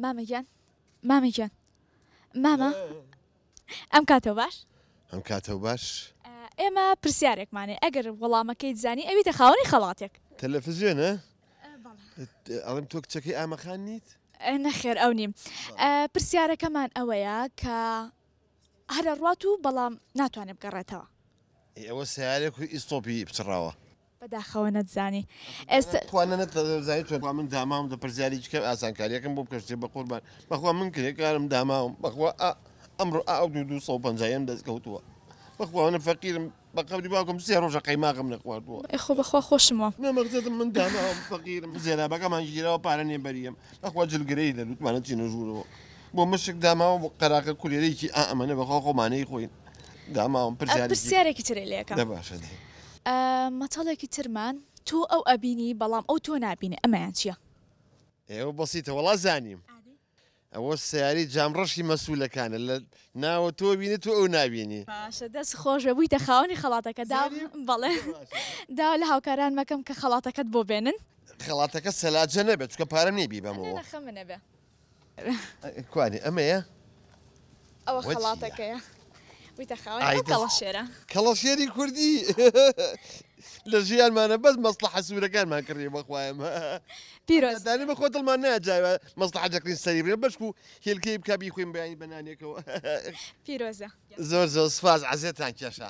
مامە گیان مامە گیان مامە ئەم کاتەوە باش ئەم کاتەوە باش ئێمە پرسیارێکمانێ ئەگەر وەڵامەکەیت زانی ئەوی تەخاوەنی خەڵاتێک تەلەفزیۆنە ئەڵم تۆ کچەکەی ئامەخان نیت نەخێر ئەو نیم پرسیارەکەمان ئەوەیە کە هەرە ڕات و بەڵام ناتوانێت بگەڕێتەوە ئەوە سیارێک و ئیسۆپی بچڕاوە بەداخەوە نەتزانی ئێستا. خوا نەت زانی تۆ. بەخوا من داماوم دە پرسیاری هیچ کەم ئاسانکاریەکەم بۆ بکە شتێ بەقوربان بەخوا من کرێ کارم داماوم بەخوا ئا ئەمڕۆ ئا ئەو دوو دوو سەد و پەنجا یەم دەست کەوتووە بەخوا منە فەقیرم بە قەولی باوکم سێ ڕۆژە قەیماغم نەخواردووە. ئێ خۆ بەخوا خۆشم وە. نە مەقسەدم من داماوم فەقیرم زێرابەکەمان گیراوە پارە نیە بەریەم بەخوا جلگرەیلە لوتمانە چینە ژوورەوە بۆ مشک داماوم قەراخە کولێرەیکی ئا ئەمەنە بەخوا خۆمانەی خۆین. داماوم پرسیارێکی ترێ لەکە مەتەڵێکی ترمان تۆ ئەو ئەبینی بەڵام ئەو تۆ نبینێ ئەمەیان چییە؟ ئێوە بەسیتە وڵا زانیم ئەوە سیاری جامڕەشی مەسوولەکانە لە ناوە تۆ بینی تو ئەو ناوینی باشە دەست خۆشە بووی دەخاوەنی خەڵاتەکە دا بەڵێ دا لە هاوکاران مەکەم کە خەڵاتەکەت بۆ بێنن خەڵاتەکە سەلاجە نەبێت چکە پارە نێبی بەمەوە کوانی ئەمەیە؟ ئەوە خەڵاتەکەیە ویتە خاوەن ئەو کەڵەشێرە. کەڵەشێری کوردی لە ژیانمانە بەس مەسڵەحە سوورەکانمان کڕی بەخوایە مە. پیرۆز. دانی بە خۆ دڵمان ناجاوە مەسڵەحە دەکرین سەری بێ بەشک و هێلکەی بکە بیخوێن بەیانی بە نانێکەوە. پیرۆزە. زۆر زۆر سوپاس عەزێتان کێشا.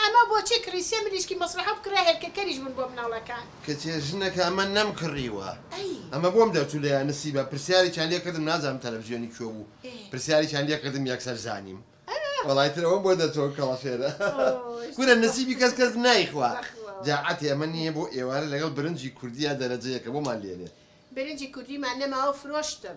ئەمە بۆچی کڕی سێ مریشکی مەسرەحە بکڕە هێلکەکەریش بوون بۆ مناڵەکان. کچێ ژنەکە ئەمە نەم کڕیوە ئەمە بۆم دەرچوو لە یا نسیبە پرسیاریکیان لێ کردم نازانم تەلەفزیۆنی کوێ بوو پرسیاریکیان لێ کردم یەکسەر زانیم وەڵای تر ئەوەم بۆ دەرچوو کەڵە فێرە کورە نسیبی کەس کەس نایخوا جا عەتی ئەمە نییە بۆ ئێوارە لەگەڵ برنجی کوردیا دەرەجە یەکەمۆمان لێنێ. برنجی کوردیمان نەماوە فرۆشتم.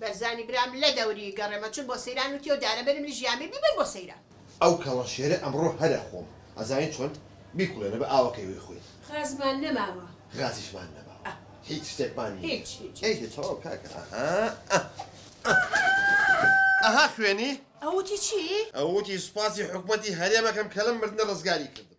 بەرزانی برام لە دەوری گەڕێمە چون بۆ سەیران وتیەوە دارە بەرم لژی ئامیر بیبەن بۆ سەیران. ئەو کەڵە شێرە ئەمڕۆ هەرە خۆم. ئەزانی چۆن؟ بیکوڵێنە بە ئاوەکەی وەی خۆی. غازمان نەماوە. غازیشمان نەماوە. هیچ شتێکمان نییە. هیچ هیچ. ئەی دە تەواو کاکە ئەها ئە ئە ئەها خوێنی. ئەو وتی چی؟ ئەو وتی سوپاسی حکومەتی هەرێم ئەکەم کە لەم مردنە ڕزگاری کردم.